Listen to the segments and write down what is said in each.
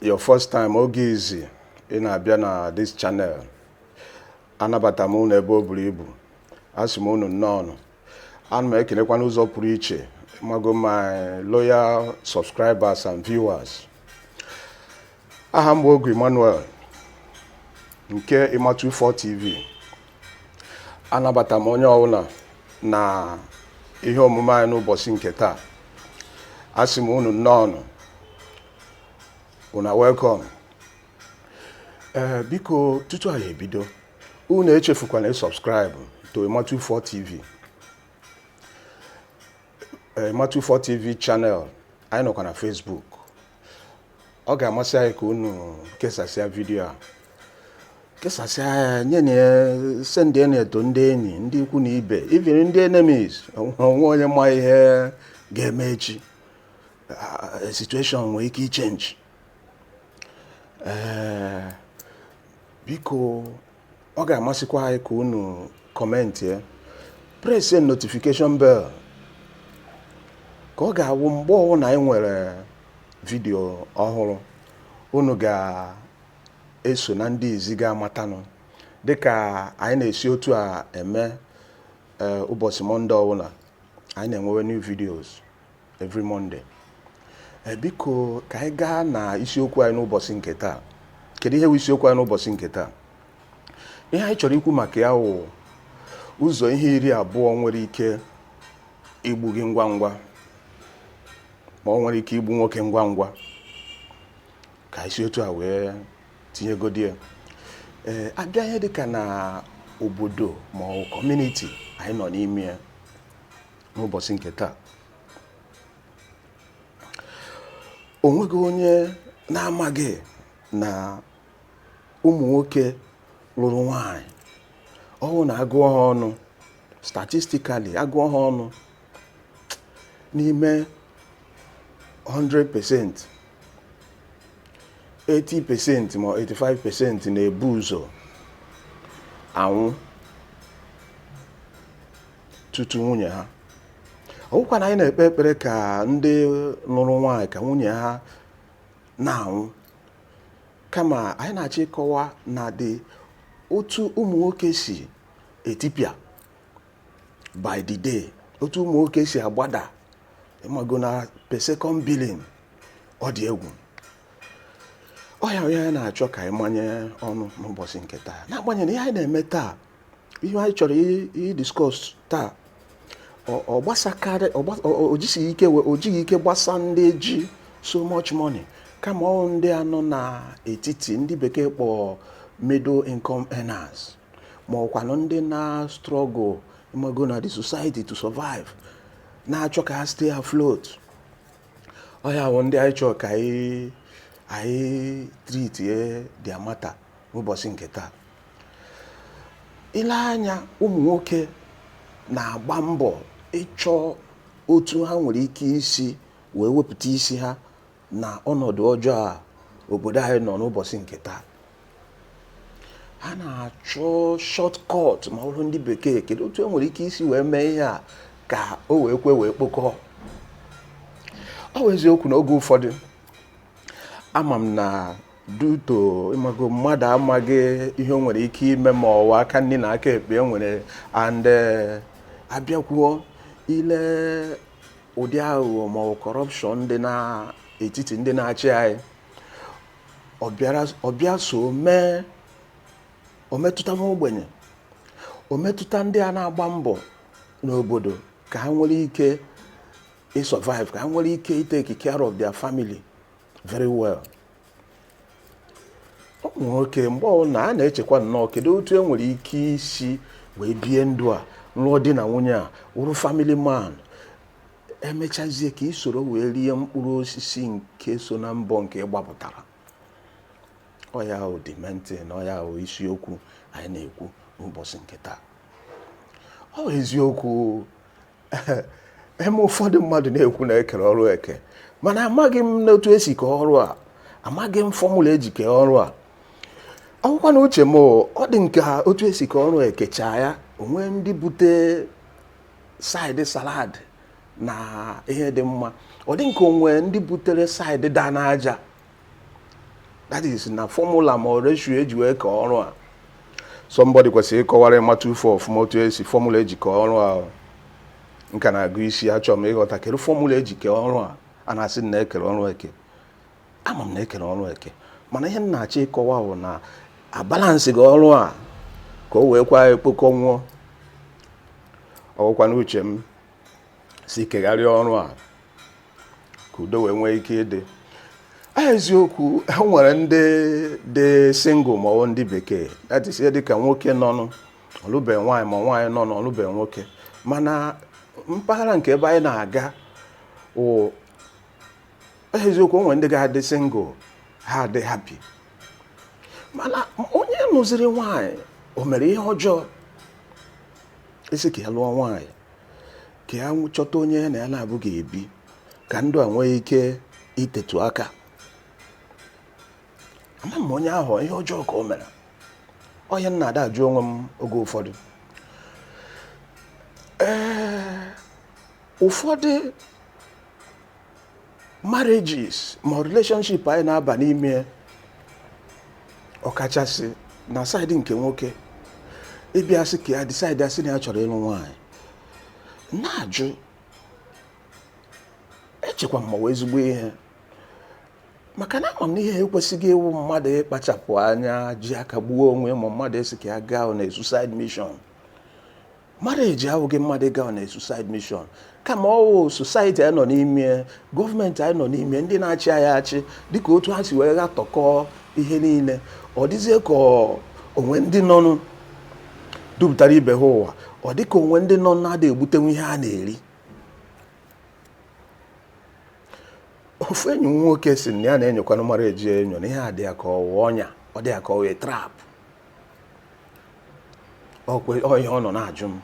your first time oge izi ị na-abịa na this channel anabata m unu ebe o buru ibu asị m unu nnọọ ana m ekelekwa n'ụzọ pụrụ iche mago my loyal subscribers and viewers aha m bụ Ogu Emmanuel nke Emma24 TV anabata m onye ọbụla na ihe omume anyị n'ụbọchị nke taa asị m unu nnọọ una welcome ee biko tutu anyị ebido unu echefukwana ịsubscribe to Emma24 TV Emma24 TV channel anyị nọkwa na Facebook ọ ga-amasị anyị ka unu kesasịa vidio a kesasịa ya nye na ya sendị ya nụ to ndị enyi ndị ikwu na ibe even ndị enemies o nwe onye ma ihe ga-eme echi uh, situation nwere ike ịchange ee eh, biko ọ ga-amasịkwa anyị ka unu comment ya press notification bell ka ọ ga-awụ mgbe ọbụla anyị nwere vidio ọhụrụ unu ga-eso na ndị izi ga-amatanụ dịka anyị na-esi otu a eme eh, ụbọchị Monday ọbụla anyị na-enwewe new videos every Monday eh, biko ka anyị gaa na isiokwu anyị n'ụbọchị nke taa kedu ihe bụ isiokwu anyị n'ụbọchị nke taa ihe anyị chọrọ ikwu maka ya wụ ụzọ ihe iri abụọ nwere ike igbu gị ngwa ngwa ma ọ nwere ike igbu nwoke ngwa ngwa ka anyị si otu a wee tinyegodi ya ee eh, a bịa ihe dịka na obodo ma ọ community anyị nọ n'ime ya n'ụbọchị nke taa o nweghị onye na-amaghị na ụmụ nwoke lụrụ nwaanyị ọ wụ na a gụọ ha ọnụ statistically a gụọ ha ọnụ n'ime 100% 80% ma 85% na-ebu ụzọ anwụ tutu nwunye ha ọ wụkwa na anyị na-ekpe ekpere ka ndị lụrụ nwaanyị ka nwunye ha na-anwụ kama anyị na-achọ ịkọwa na ụdị otu ụmụ nwoke si etipịa by the day otu ụmụ nwoke si agbada ịmago na per second billing ọ dị egwu ọ ya wụ ihe anyị na-achọ ka anyị manye ọnụ n'ụbọchị nke taa n'agbanyeghị na ihe anyị na-eme taa ihe anyị chọrọ ịdiscuss taa ọ gbasakarị o jighị ike gbasa ndị ji so much money kama ọ ndị a nọ na etiti ndị bekee kpọọ middle income earners ma ọ wụkwanụ ndị na struggle ị mago na the society to survive na-achọ ka ha stay afloat ọ ha bụ ndị anyị chọrọ ka anyị treat their matter n'ụbọchị nke taa i lee anya ụmụ nwoke na-agba mbọ ịchọ otu ha nwere ike isi wee wepụta isi ha na ọnọdụ ọjọọ a obodo anyị nọ n'ụbọchị nke taa ha na-achọ shortcut ma ọ bụrụ ndị bekee kedu otu e nwere ike isi wee mee ihe a ka o wee kwe wee kpokọọ ọ bụ eziokwu na oge ụfọdụ ama m na due to ị mago mmadụ amaghị ihe o nwere ike ime ma ọ nwaa aka nri na aka ekpe e nwere and eh, a bịakwuo ile ụdị aghụghọ ma ọ corruption dị n'etiti ndị na-achị anyị ọ bịa so mee o metụta nwa ogbenye o metụta ndị a na-agba mbọ n'obodo ka ha nwere ike ịsurvive ka ha nwere ike itake care of their family very well ụmụ nwoke mgbe ọbụla a na-echekwa nnọọ kedu otu e nwere ike isi wee bie ndụ a lụọ di na nwunye a wụrụ family man e mechazie ka i soro wee rie mkpụrụ osisi nke so na mbọ nke ị gbapụtara ọ ya wụ the main thing ọ ya wụ isiokwu anyị na-ekwu n'ụbọchị nke taa ọ bụ eziokwu eme ụfọdụ mmadụ na-ekwu na e kere ọrụ eke mana amaghị m n'otu e si kee ọrụ a amaghị m formula e ji kee ọrụ a ọ wụkwanụ uche m ọ dị ka otu e si kee ọrụ e kechaa ya o nwere ndị bute side salad na ihe dị mma ọ dị ka o nwere ndị butere side da n'aja that is na formula ma ọ ratio e ji wee kee ọrụ a somebody kwesịrị ịkọwara ịmata ufe ọfụma otu e si formula e ji kee ọrụ a nka na-agụ isi achọrọ m ịghọta kedu formula e ji kee ọrụ a a na-asị na e kere ọrụ eke ama m na e kere ọrụ eke mana ihe m na-achọ ịkọwa bụ na abalanceghị ọrụ a ka o wee kwa kpokọọ o ọ wụkwanụ uche m si kegharịa ọrụ a ka udo wee nwee ike ịdị eziokwu e nwere ndị dị single ma ọ wụ ndị bekee that is dịka nwoke nọnụ ọ lụbe nwaanyị ma nwaanyị nọnụ ọ lụbe nwoke mana mpaghara nke ebe anyị na-aga eziokwu o nwere ndị ga-adị single ha adị happy mana onye lụziri nwaanyị o mere ihe ọjọọ ị sị ka ya lụọ nwaanyị ka ya chọta onye ya na ya naabọ ga-ebi ka ndụ a nwee ike itetu aka ama m onye ahụ ihe ọjọọ ka o mere ọ ihe m na-ada ajụ onwe m oge ụfọdụ ee ụfọdụ marriages ma relationship anyị na-aba n'ime ọkachasị na side nke nwoke ịbịa sị ka ya decide sị na ya chọrọ ịlụ nwaanyị na-ajụ echekwa m ma ọ wụ ezigbo ihe maka na ama m na ihe ekwesịghị ịwụ mmadụ ịkpachapụ anya ji aka gbuo onwe ma mmadụ sị ka ya gaa on a suicide mission marriage awụghị mmadụ ịga on a suicide mission kama ọ wụ society anyị nọ n'ime ya, gọọmenti anyị nọ n'ime ya, ndị na-achị anyị achị dịka otu ha si wee ghatọkọọ ihe niile ọ dịzie ka ọ- o nwe ndị nọnụ dupụtara ibe ha ụwa ọ dị ka o nwe ndị nọ na-ada egbutenwu ihe a na-eri ofu enyi m nwoke sị na ya na-enyokwanụ marriage enyo na ihe a dị ya ka ọ wụ ọnya ọ dị ya ka ọ wụ trap ọkwa ihe ọ nọ na-ajụ m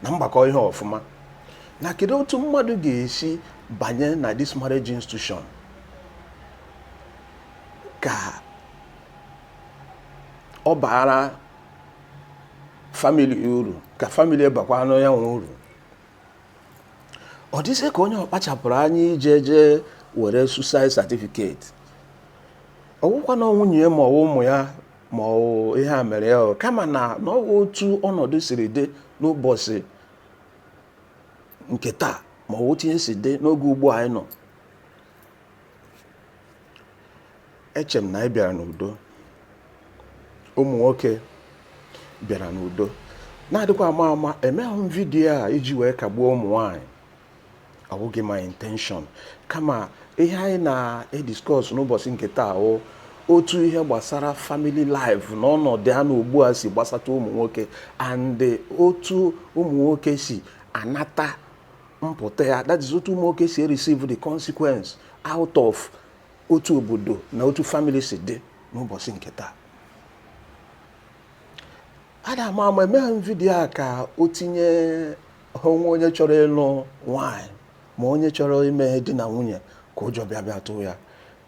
na m gbakọọ ihe ọfụma na kedu otu mmadụ ga-esi banye na this marriage institution ka ọ baara family uru ka family bakwaanụ ya nwa uru ọ dịzie ka onye ọ kpachapụrụ anya ije jee were suicide certificate ọ wụkwanụ nwunye ya ma ọ wụ ụmụ ya ma ọ wụ ihe a mere ya o, kama na na ọ wụ otu ọnọdụ siri dị n'ụbọchị nke taa ma ọ wụ otu ihe si dị n'oge ugbu a anyị nọ eche m na anyị bịara n'udo ụmụ nwoke bịara n'udo na adịkwa ama ama emeghị m vidiyo a iji wee kagbuo ụmụ nwaanyị ọ wụghị my intention kama ihe anyị na-ediscuss n'ụbọchị nke taa wụ otu ihe gbasara family life na ọnọdụ a nọ ugbu a si gbasata ụmụ nwoke and otu ụmụ nwoke si anata mpụta ya that is otu ụmụ nwoke si ereceive the consequence out of otu obodo na otu family si dị n'ụbọchị nke taa ada ama ama emeghị m vidiyo a ka o tinye o nwe onye chọrọ ịlụ nwaanyị ma onye chọrọ ime ihe di na nwunye ka ụjọ bịa bịa tụọ ya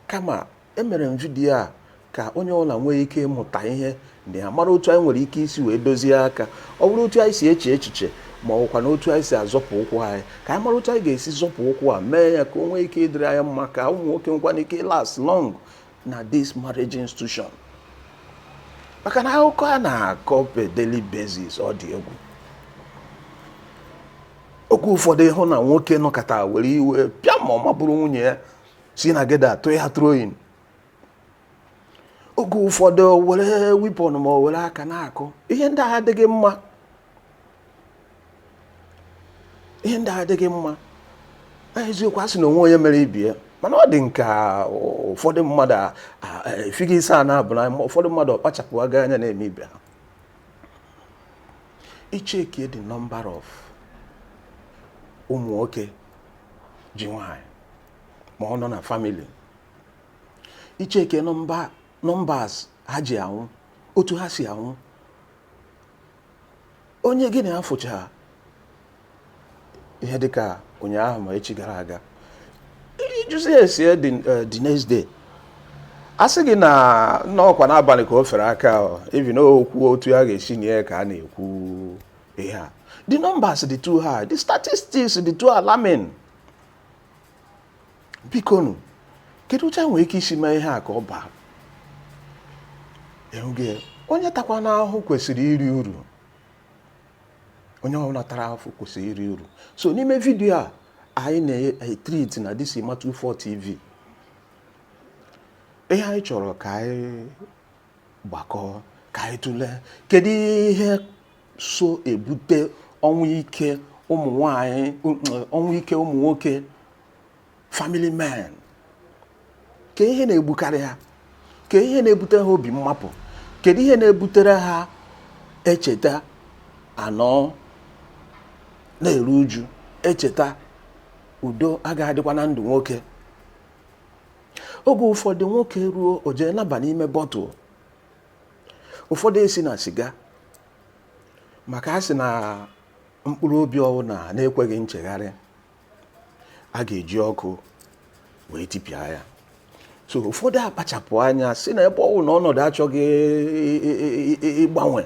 kama emere m vidiyo a ka onye ọbụla nwee ike ịmụta ihe na ya mara otu anyị nwere ike isi wee dozie aka ọ bụrụ otu anyị si eche echiche ma ọ bụkwa na otu anyị si azọpụ ụkwụ anyị ka anyị mara otu anyị ga-esi zọpụ ụkwụ a mee ya ka o nwee ike ịdịrị anyị mma ka ụmụ nwoke nwekwana ike ịlast long na this marriage institution maka na akụkọ a na-akọ per daily basis ọ dị egwu oge ụfọdụ ị hụ na nwoke nọkata were iwe pịa ma ọ ma buru nwunye ya si na geda tụọ ya throwing oge ụfọdụ were weapon ma ọ were aka na-akụ ihe ndị a adịghị mma ihe ndị a adịghị mma eziokwu a sị na o nwe onye mere ibe ya mana ọ dị m ka ụfọdụ mmadụ efighị isi a na-abụ na ụfọdụ mmadụ ọkpachapụ aga anya na-eme ibe ha ị checkie the number of ụmụ nwoke ji nwanyị ma ọ nọ na family ị checkie numbers ha ji anwụ otu ha si anwụ onye gị na ya fụcha ihe dịka ụnyaahụ ma echi gara aga ị jụzi ese ya the next day a sị gị na ọkwa n'abalị ka o fere aka ọ, even okwu otu a ga-esi nie ya ka a na-ekwu ihe a the numbers dị too high the statistics dị too alarming bikonụ kedu otu e nwere ike isi mee ihe a ka ọ baa eh onye takwana ahụhụ kwesịrị iri uru onye ọbụla tara ahụhụ kwesịrị iri uru so n'ime vidiyo a anyị na-etreat na this ima 24 tv ihe anyị chọrọ ka anyị gbakọọ ka anyị tụlee kedu ihe so ebute ọnwụ ike ụmụ nwanyị ọnwụ ike ụmụ nwoke family men ke ihe na-egbukarị ha ke ihe na-ebute ha obi mmapụ kedu ihe na-ebutere ha e cheta a nọ na-eru uju e cheta udo agaghị adịkwa na ndụ nwoke oge ụfọdụ nwoke ruo o jee naba n'ime bottle ụfọdụ esi na siga maka a sị na mkpụrụ obi ọwụna na-ekweghị nchegharị a ga-eji ọkụ wee tipịa ya so ụfọdụ akpachapụ anya sị na ebe ọ wụ na ọnọdụ achọghị ịgbanwe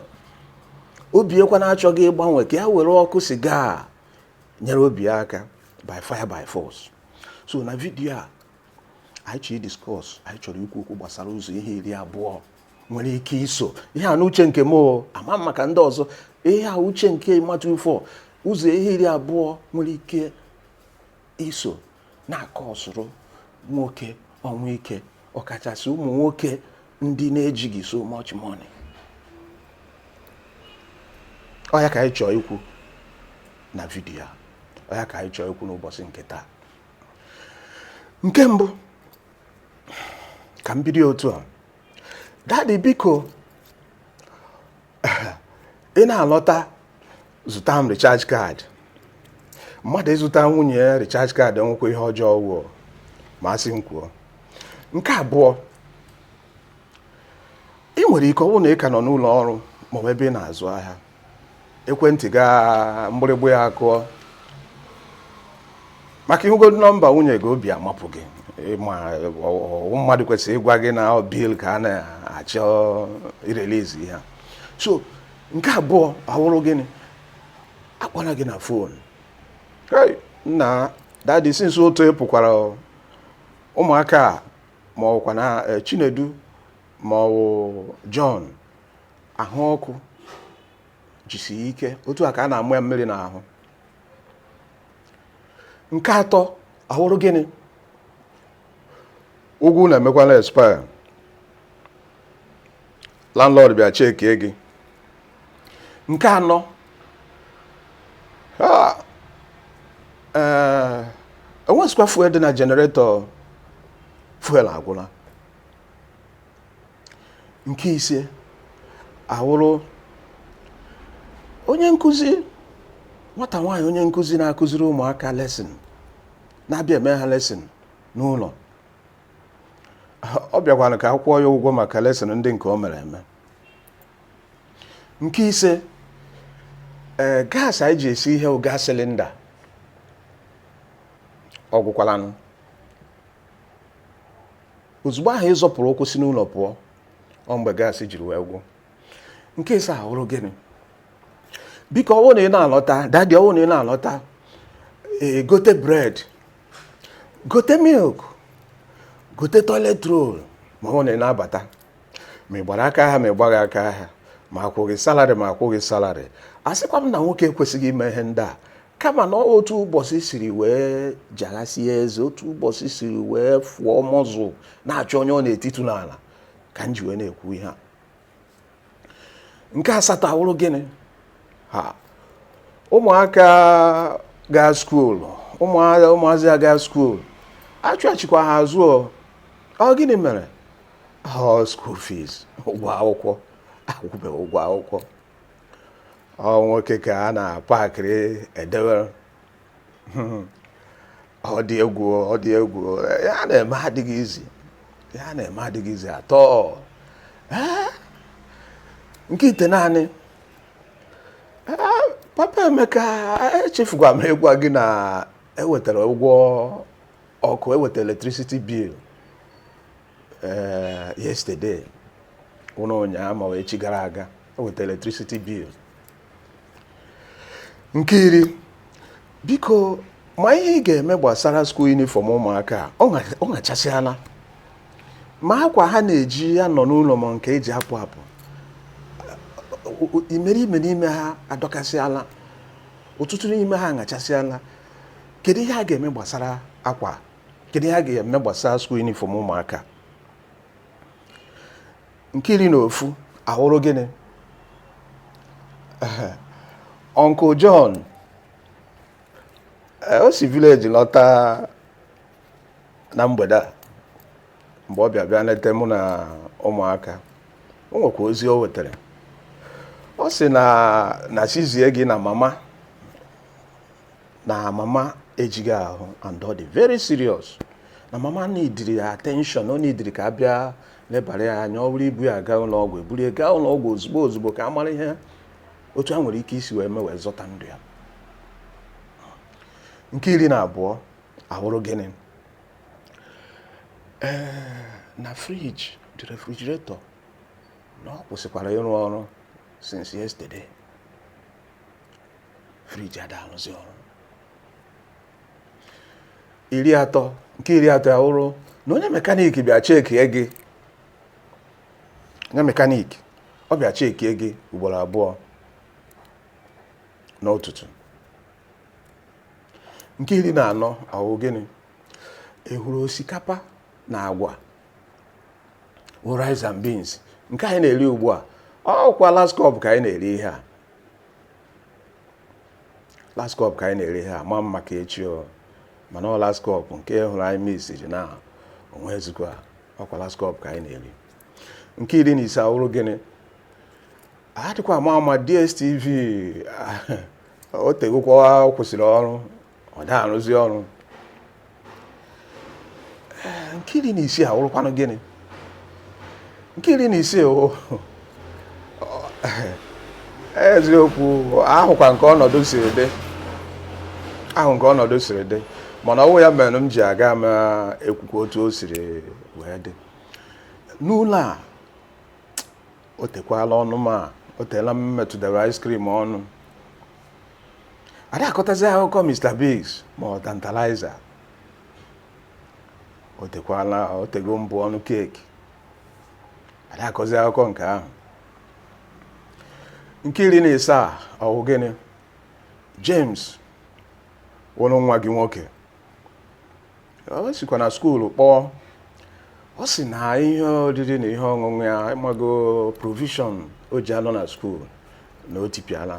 obi ya kwana achọghị ịgbanwe ka ya were ọkụ siga nyere obi ya aka by fire by force so na vidiyo a anyị chọrọ idiscuss anyị chọrọ ikwu okwu gbasara ụzọ ihe iri abụọ nwere ike iso ihe a n'uche nke m ama m maka ndị ọzọ ihe a uche nke Ima24 ụzọ ihe iri abụọ nwere ike iso na-akọọsụrụ nwoke ọnwụ ike ọkachasị ụmụ nwoke ndị na-ejighị so much money ọ ya ka anyị chọọ ikwu na vidiyo a ọ ya ka anyị chọọ ikwu n'ụbọchị nke taa nke mbụ ka m bido otu a daddy biko ị na-alọta zụta m recharge card mmadụ ịzụta nwunye ya recharge card enwekwa ihe ọjọọ ọ wụ ma a sị m kwuo nke abụọ i nwere ike ọ wụ na ị ka nọ n'ụlọ ọrụ ma ọ bụ ebe ị na-azụ ahịa ekwentị gị a mgbịrịgba ya akụọ maka ị hụgodu nọmba nwunye gị obi amapụ gị ma mmadụ kwesịrị ịgwa gị na ọ bill ka a na-achọ irelease ya so nke abụọ awụrụ gịnị akpọla gị na phone nna daddy since otu ị pụkwara ụmụaka ma ọkwa na eh, Chinedu ma ọ bụ John ahụ ọkụ jisi ike otu a ka a na-amụ ya mmiri n'ahụ nke atọ awụrụ gịnị ụgwọ ụlọ emekwala expire landlord bịa chekie gị nke anọ ah, eh, enwesikwa fuel dị na generator fuel agwụla nke ise awụrụ onye nkụzi nwata nwaanyị onye nkụzi na-akụziri ụmụaka lesson na-abịa eme ha lesson n'ụlọ ọ bịakwara ka a kwụọ ya ụgwọ maka lesson ndị nke o mere eme nke ise ee gas anyị ji esi ihe gas cylinder ọ gwụkwalanụ ozugbo ahụ ị zọpụrụ ụkwụ si n'ụlọ pụọ ọ mgbe gas jiri wee gwụ nke isii awụrụ gịnị biko ọ wụ na ị na-alọta daddy ọ wụ na ị na-alọta e, gote bred gote milk gote toilet roll ma ọ wụ na ị na-abata ma ị gbara aka ahịa ma ị gbaghị aka ahịa ma a kwụọ gị salary ma akwụghị salary asịkwa m na nwoke ekwesịghị ime ihe ndị a kama na otu ụbọchị siri wee jaghasie eze otu ụbọchị siri wee fụọ mọzụ na-achọ onye ọ na-etitu n'ala ka m ji wee na-ekwu ihe a nke asatọ awụrụ gịnị ha ụmụaka gaa school ụmụazị a gaa school achụghachikwa ha azụ ọ gịnị mere ọ school fees ụgwọ akwụkwọ akwụbeghị ụgwọ akwụkwọ ọ nwoke ka a na-apakịrị edewere ọ dị egwu ọ dị egwu ihe a na-eme adịghị easy ihe a na-eme adịghị easy at all Ee, nke itenaanị Ee, papa Emeka echefukwa m ịgwa gị na ewetara ụgwọ ọkụ ewetara electricity bill ee yesterday ụn- ụnyaahụ ma ọ wụ echi gara aga o weta electricity bill nke iri biko ma ihe ị ga-eme gbasara school uniform ụmụaka a, ọ ṅa- ọ ṅachasịala ma akwa ha na-eji anọ n'ụlọ ma nke eji apụ apụ o- o- imerime n'ime ha adọkasịala ọtụtụ n'ime ha aṅachasịala kedu ihe a ga-eme gbasara akwa kedu ihe a ga-eme gbasara school uniform ụmụaka nke iri na ofu awụrụ gịnị uncle John eh, o si village lọta na mgbede a mgbe ọ bịa bịa leta mụ na ụmụaka o nwekwa ozi o wetara ọ sị na a sị zie gị na mama na mama ejighị ahụ and ọ dị very serious na mama neediri attention ọ neediri ka a bịa lebara ya anya ọ bụrụ ibu ya gaa ụlọ ọgwụ eburu ya gaa ụlọ ọgwụ ozugbo ozugbo ka a mara ihe otu a nwere ike isi wee mee wee zọta ndụ ya nke iri na abụọ awụrụ gịnị ee na fridge the refrigerator na ọ kwụsịkwara ịrụ ọrụ since yesterday fridge ada arụzi ọrụ iri atọ nke iri atọ ya wụrụ na onye mechanic bịa chekie gị onye mechanic ọ bịa chekie gị ugboro abụọ n'ụtụtụ nke iri na anọ ọ wụ gịnị awụrụ osikapa na agwa rice and beans nke anyị na-eri ugbu a ọkwa last cup ka anyị na-eri ihe a last cup ka anyị na-eri ihe a amaghị m maka echi o mana ọ last cup nke hụrụ anyị miss ji na o nwezikwa ọkwa last cup ka anyị na-eri nke iri na ise awụrụ gịnị adịkwa ama ama DSTV o tegokwa kwụsịrị ọrụ ọ da arụzi ọrụ nke iri na isii awụrụkwanụ gịnị nke iri na isii eziokwu ahụkwa m ka ọnọdụ siri dị ahụ m ka ọnọdụ siri dị mana ọ wụ ya mere m ji aga m ekwukwa otu o siri wee dị n'ụlọ a o tekwala ọnụ ma o teela m metụdara ice cream ọnụ ada akọtazi akụkọ Mr. Biggs ma ọ Tantalizer o tego m bu ọnụ keeki ada akọzi akụkọ nke ahụ nke iri na isaa ọ wụ gịnị James wụ nwa gị nwoke o sikwa na skuulu kpọọ ọ sị na ihe oriri na ihe ọṅụṅụ ya ịmago provision o ji anọ na skuulu na o tipịala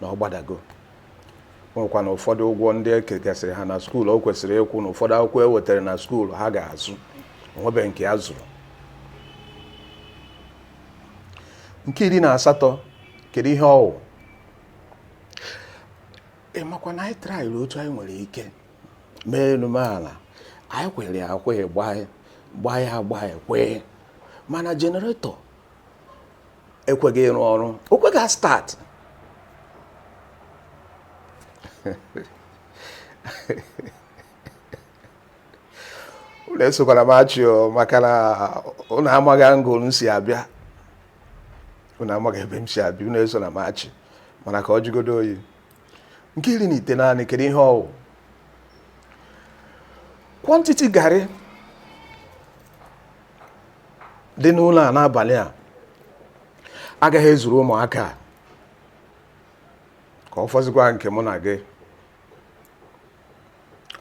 na ọ gbadago nwekwa na ụfọdụ ụgwọ ndị e kegasịrị ha na skuul o kwesịrị ịkwụ na ụfọdụ akwụkwọ e wetara na skuul ha ga-azụ onwebeghị nke ya zụrụ nke iri na asatọ kedu ihe ọ wụ ị makwa na anyị traịrị otu anyị nwere ike mee enume ala anyị kwere akwe gbaa ya gbaa ya kwee mana generator ekweghị arụ ọrụ o kweghị a start unu esokwana m achị o maka na unu amaghị angle m si abịa unu amaghị ebe m si abịa unu esona m achị mana ka ọ jụgodo oyi nke iri na itenaanị kedu ihe ọ wụ quantity garri dị n'ụlọ a n'abalị a agaghị ezuru ụmụaka a ka ọ fọzikwa nke mụ na gị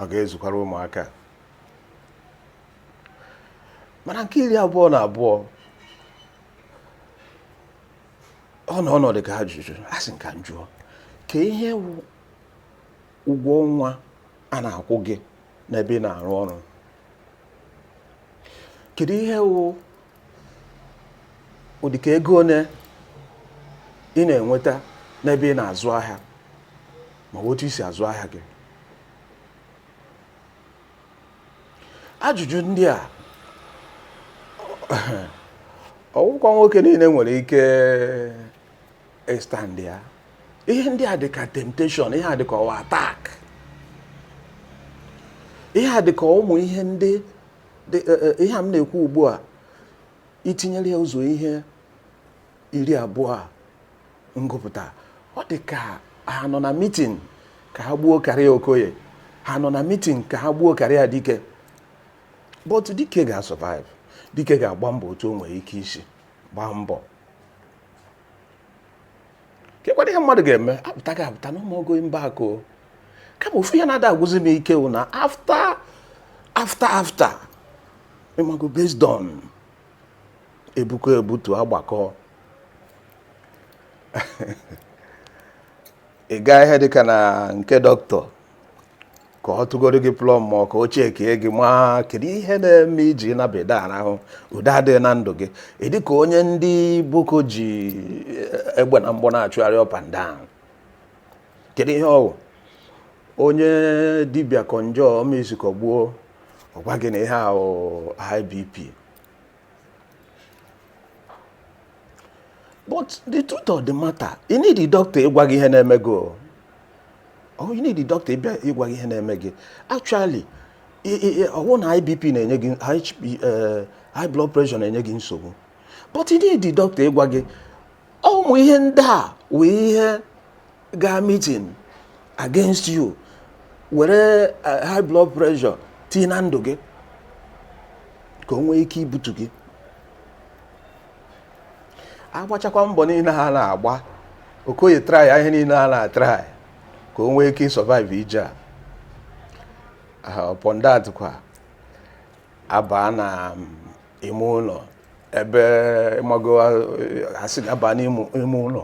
ọ gaghị ezukwara ụmụaka a. mana nke iri abụọ na abụọ ọ nọ n'ụdịka ajụjụ asị m ka m jụọ kee ihe wụ ụgwọ ọnwa a na-akwụ gị n'ebe ị na-arụ ọrụ kedu ihe wụ ụdịka ego one ị na-enweta n'ebe ị na-azụ ahịa ma ọ wụ otu i si azụ ahịa gị ajụjụ ndị a ọ wụkwa nwoke niile nwere ike estand ya ihe ndị a dịka temptation ihe a dịka ọ wụ attack ihe a dịka ụmụ ihe ndị e, e, ihe a m na-ekwu ugbu a itinyere ya ụzọ ihe iri abụọ a m gụpụta ọ dị ka ha nọ na meeting ka ha gbuo career okoye ha nọ na meeting ka ha gbuo career dike but dike ga-survive dike ga-agba mbọ otu o nwere ike isi gbaa mbọ kekwanụ ihe mmadụ ga-eme apụta gị apụta na ụmụogo mba akụ kama ofu ihe na-ada agwụzi m ike wụ na after after after ịmago based on ebuko ebutu agbakọ ị gaa ihe dịka na nke dọkịta ka ọ tụgoro gị plọm ma ọ ka o checkie gị ma kedu ihe na-eme i ji naba ị da arahụ udo adịghị na ndụ gị ị dị ka onye ndị boko ji eh, egbe na mgbọ na-achụgharị up and down kedu ihe ọ wụ onye dibịa konjo omezukọ gbuo ọ gwa gị na ihe ahụ high BP but the truth of the matter you need the doctor ịgwa gị ihe na-eme gị o oh, you need the doctor ịgwa gị ihe na-eme gị actually ọ wụ na high BP na-enye gị eh, high blood pressure na-enye gị nsogbu but you need the doctor ịgwa gị ụmụ ihe ndị a wee ihe gaa meeting against you were eh, high blood pressure tii na ndụ gị ka o nwee ike ibutu gị agbachakwa mbọ niile ha na-agba okoye try ihe niile ha na-atry ka o nwee ike isurvive ije a ah, upon that kwa abaa na mm, ime ụlọ ebe ịmago a sị ka a baa n'ime ụlọ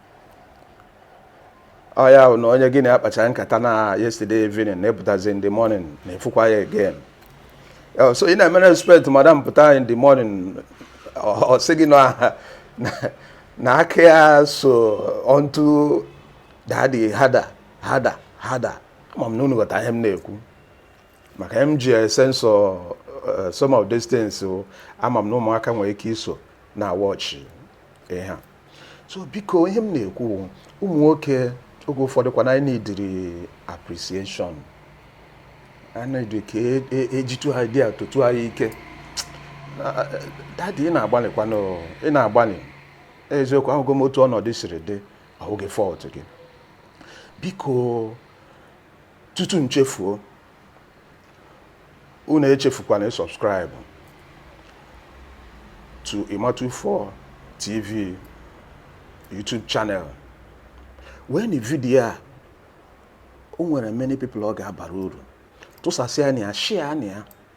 ọ ya bụ na onye gị na ya kpachaa nkata na yesterday evening na-apụtazi in the morning na-efukwa ya again Oh, so ị na-emere respect madam pụta in the morning ọ ọ sị gị na na- na aka ya so onto daddy harder harder harder ama m na unu ghọta ihe m na-ekwu maka ihe m ji censor some of these things o, ama m na ụmụaka nwere ike iso na-awatch ihe a so biko ihe m na-ekwu ụmụ nwoke oge ụfọdụ kwa na anyị needịrị appreciation anyị need ka ejitu e, e idea totu anyị ike daddy ị na-agbalịkwanụ ị na-agbalị eziokwu ahụgo m otu ọnọdụ siri dị ọ wụghị fault gị biko tutu m chefuo unu echefukwana ịsubscribe to Imatu4 TV YouTube channel wee nụ video a o nwere many people ọ ga-abara uru tụsasịa nụ ya share nụ ya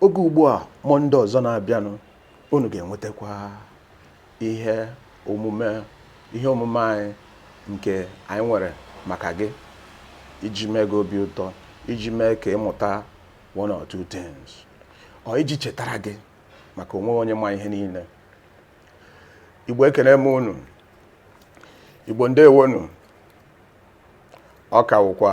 Oge ugbu a Monday ọzọ na-abịanụ, unu ga-enwetakwa ihe omume ihe omume anyị nke anyị nwere maka gị iji mee gị obi ụtọ, iji mee ka ị mụta one or two things, or iji chetara gị maka onwe gị onye ma ihe niile. Igbo ekene m unu, Igbo ndewonu, ọ ka wụkwa